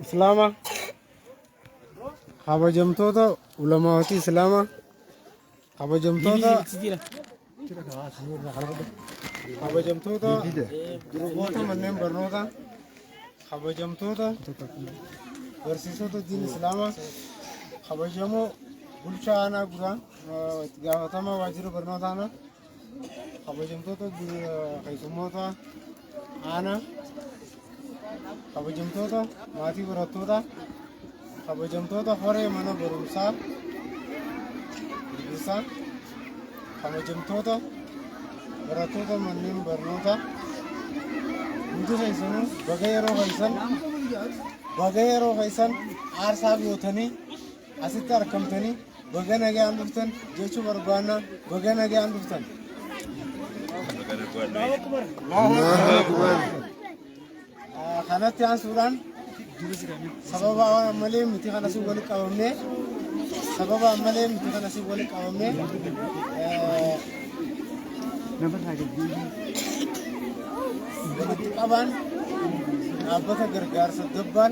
islaama kabajamtoota ulamaawatii islaama kabajamtoota kabajamtoota durboota manneen barnoota kabajamtoota barsiisota diin islaama kabajamoo bulchaa aanaa guraa itti gaafatamaa waajjira barnoota aanaa kabajamtoota keessummoota aanaa kabajamtoota maatii barattoota kabajamtoota horee mana barumsaa gaggeessaa kabajamtoota barattoota manneen barnoota hundi keessanuu baga yeroo keessan baga yeroo keessan aarsaa gootanii Asitti argamtanii baga nagaan dhuftan jechuu barbaannaa baga nagaan dhuftan. Ah, Kanatti aansuudhaan sababa waan ammalee miti kana si walitti qabamne sababa ammalee miti kana si walitti qabamne eh, walitti qabaan dhaabbata gargaarsa gabbaan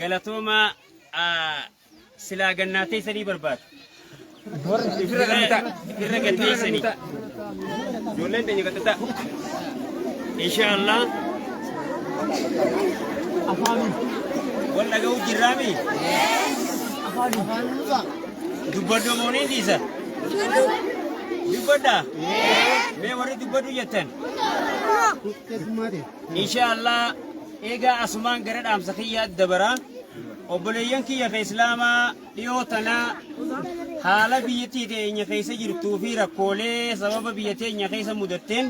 galatooma silaa gannaa teessanii barbaadu. Irra gad teessanii. Ijoolleen teenya gad ta'a. Inshaallah. Wal dhaga'u jirraami. Dubbadhu moonii dhiisa. Dubbadha. Mee warri dubbadhu jettan. insha allah eegaa asumaan gara dhaamsa kiyyaa dabara obboleeyyan kiyya ka islaamaa dhiyoo tana haala biyyattii teenya keessa jirtuu fi rakkoolee sababa biyya teenya keessa mudatteen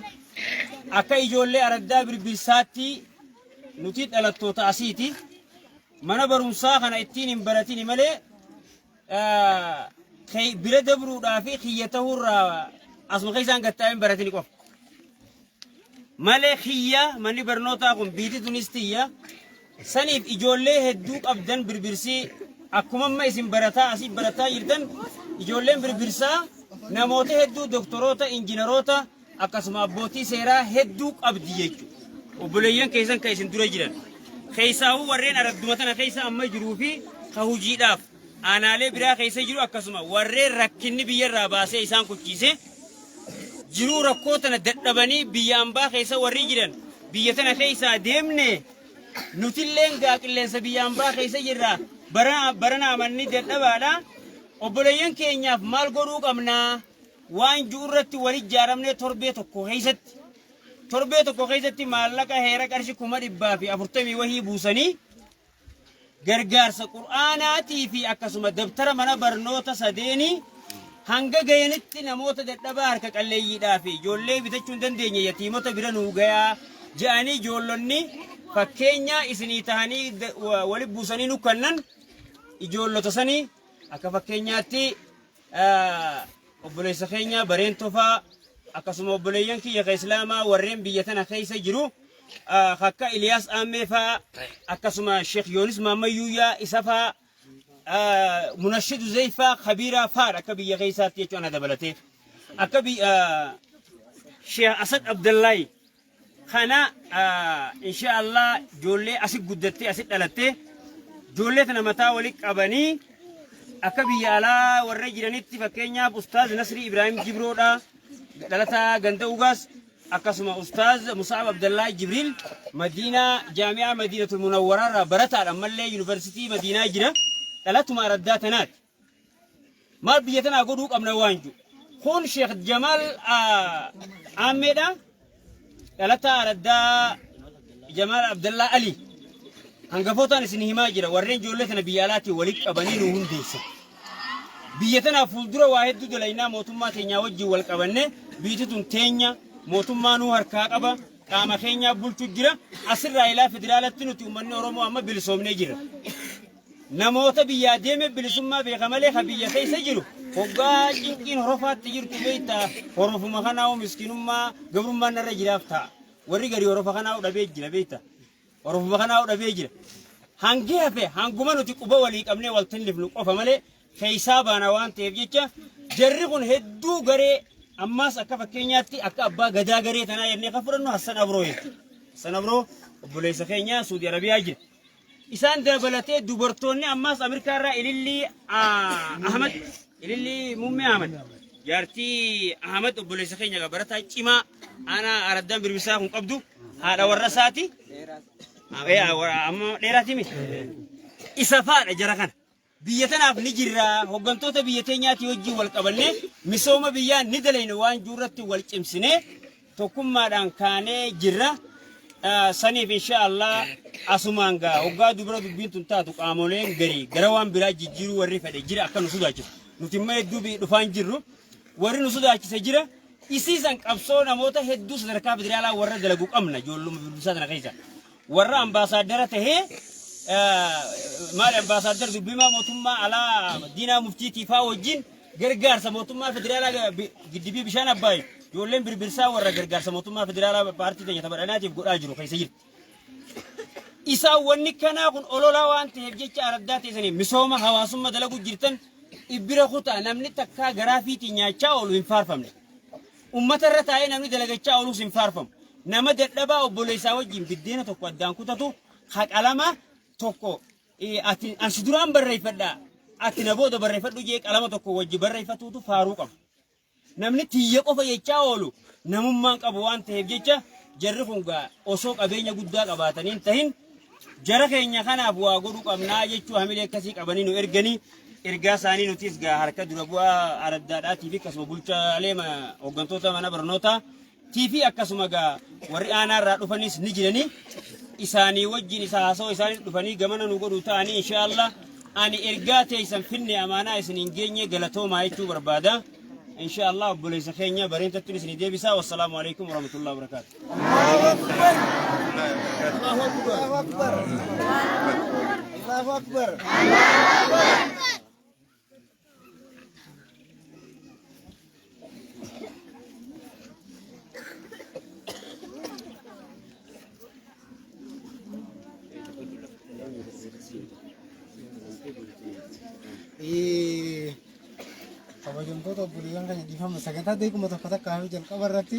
akka ijoollee araddaa birbirsaatti nuti dhalattoota asiiti mana barumsaa kana ittiin hin baratini malee kee- bira dabruudhaa fi kiyya ta'uurraa asuma keessaan gattaa'een baratini qofa. Malee kiyya manni barnootaa kun biiti tunis tiyya saniif ijoollee hedduu qabdan birbirsii akkuma amma isin barataa asii barataa jirtan ijoolleen birbirsaa namoota hedduu doktoroota injiinaroota akkasuma abbootii seeraa hedduu qabdi jechuudha. Obboleeyyan keessan kan isin dura jiran keessaawuu warreen aradduma tana keessa amma jiruu fi ka hojiidhaaf aanaalee biraa keessa jiru akkasuma warreen rakkinni biyyarraa baasee isaan kuchiise jiruu rakkoo tana dadhabanii biyya ambaa keessa warri jiran biyya tana keessaa deemne nutilleen gaa qilleensa biyya ambaa keessa jirra barana barana amanni dadhabaadha obboleeyyan keenyaaf maal godhuu qabnaa? waan ju'urratti wal ijjaaramnee torbee tokko keessatti torbee tokko keessatti maallaqa heera qarshi kuma dhibbaa fi afurtamii wahii buusanii gargaarsa qur'aanaatii fi akkasuma dabtara mana barnoota sadeenii hanga gayanitti namoota dadhabaa harka qalleeyyiidhaa fi ijoollee bitachuu hin dandeenye yatiimota bira nuu gayaa ja'anii ijoollonni fakkeenyaa isinii tahanii da- wa- wali buusanii nu kannan ijoollota sanii akka fakkeenyaatti Obboleessa keenya Bareen Tofaa akkasuma obboleeyyan kiyya ka Islaamaa warreen biyya tana keessa jiru akka Iliyaas Aammee faa akkasuma Sheekh Yoonis Maammayyuuyaa isa faa Munashidu Zeyfaa Kabiiraa faadha akka biyya keessaatti jechuun ana dabalatee akka Sheekh Asad Abdallahi Kana insha Allah ijoollee asi guddattee asi dhalattee ijoollee tana mataa wali qabanii akka biyya alaa warra jiranitti fakkeenyaaf Ustaaz Nasrii Ibraahim Jibroodha dhalataa ganda ugaas akkasuma Ustaaz Musaab Abdallaa Jibriil Madiinaa Jaami'aa Madiinatul Munawwaraarraa barataadha ammallee yuunivarsiitii Madiinaa jira dhalatuma araddaa tanaati. Maal biyya tanaa godhuu qabna waan ju. Kun Sheekh Jamaal Aammeedha. Dhalataa Araddaa Jamaal Abdallaa Ali. Hangafootaan isin himaa jira warreen ijoollee tana biyya alaatiin walitti qabanii nu hundeessa. Biyya tanaaf fuuldura waa hedduu dalaynaa mootummaa teenyaa wajjin wal qabanne biyyi tun teenya mootummaa nuu harkaa qaba qaama keenyaa bulchu jira asirraa ilaa federaalatti nuti uummanni Oromoo amma bilisoomnee jira. Namoota biyyaa deeme bilisummaa beeka malee ka biyya keessa jiru hoggaa cinqiin horofaatti jirtu beekta horofuma kanaa'u miskinummaa gabrummaan narra jiraaf ta'a. Warri garii horofa kanaa'u dhabee jira beekta. Horofuma kanaa'u dhabee jira. Hangi hafe hanguma nuti quba walii qabnee wal tillifnu qofa malee keessaa baana waan ta'eef jecha jarri kun hedduu garee ammaas akka fakkeenyaatti akka abbaa gadaa garee tanaa jennee kan fudhannu Hassan Abroo jechuudha. Hassan Abroo obboleessa keenya Suudi Arabiyaa jira. Isaan dabalatee dubartoonni ammaas Ameerikaa irraa Ilillii ah, Ahmad, Ilillii Muummee Ahmad, jaartii Ahmad obboleessa keenya egaa barataa cimaa aanaa araddaan birbisaa kun qabdu haadha warra isaati. Ah, eh, ah, warra- Amma dheeraati miti. Isa faadha jara kana. Biyya tanaaf ni jirra, hoggantoota biyya teenyaatii wajjiin wal qabannee misooma biyyaa ni dalayna waan jiru irratti wal cimsinee tokkummaadhaan kaanee jirra. Saniif insha Allah asumaan gaa hoggaa dubra dubbiin tun taatu qaamoleen garii gara waan biraa jijjiiruu warri fedhe jira akka nu sodaachisu. Nuti immoo hedduu bi- dhufaan jirru warri nu sodaachise jira. Isiisan qabsoo namoota hedduu sadarkaa federaalaa warra dalagu qabna ijoolluma bilbisaa tana keessa. warra ambaasaaddara tahee maali ambaasaaddar dubbimaa mootummaa alaa diinaa muftiitii faa wajjin gargaarsa mootummaa federaalaa giddibii bishaan abbaay ijoolleen birbirsaa warra gargaarsa mootummaa federaalaa paartii keenya taphadhanaatiif godhaa jiru keessa jirti. Isaan wanni kanaa kun ololaa waan ta'eef jecha araddaa teessanii misooma hawaasummaa dalaguu jirtan ibbira kutaa namni takkaa garaa fiitii nyaachaa oolu hin faarfamne. Ummata irra taa'ee namni dalagachaa oolus hin faarfamu. Nama dadhabaa obboleessa isaa wajjin biddeena tokko addaan kutatu ha qalama tokko eh, ati an si duraan barreeffadha ati na booda barreeffadhu jee qalama tokko wajji barreeffatuutu faaruu qaba. Namni tiyya qofa jechaa oolu namummaan qabu waan ta'eef jecha jarri kun gaa osoo qabeenya guddaa qabaatanii hin tahin Jara keenya kanaaf waa godhu qabnaa jechuu hamilee akkasii qabanii nu erganii ergaa isaanii nutis gaa harka dura bu'aa araddaadhaatii fi akkasuma bulchaalee ma- hooggantoota mana barnootaa tii fi akkasuma gaa warri aanaa irraa dhufanis ni jiranii isaanii wajjin isa haasoo isaanis dhufanii gamana nu godhu ta'anii inshaallah ani ergaa teessan finne amaanaa isin hin geenye galatoomaa jechuu barbaada inshaallah obboleessa keenya bareentattuun isin deebisaa wassalaamu alaikum warahmatullahi wabarakaatu kabajamtoota obboleewwan keenya dhiifama sagantaa deekuma tokko takka hafi jalqaba irratti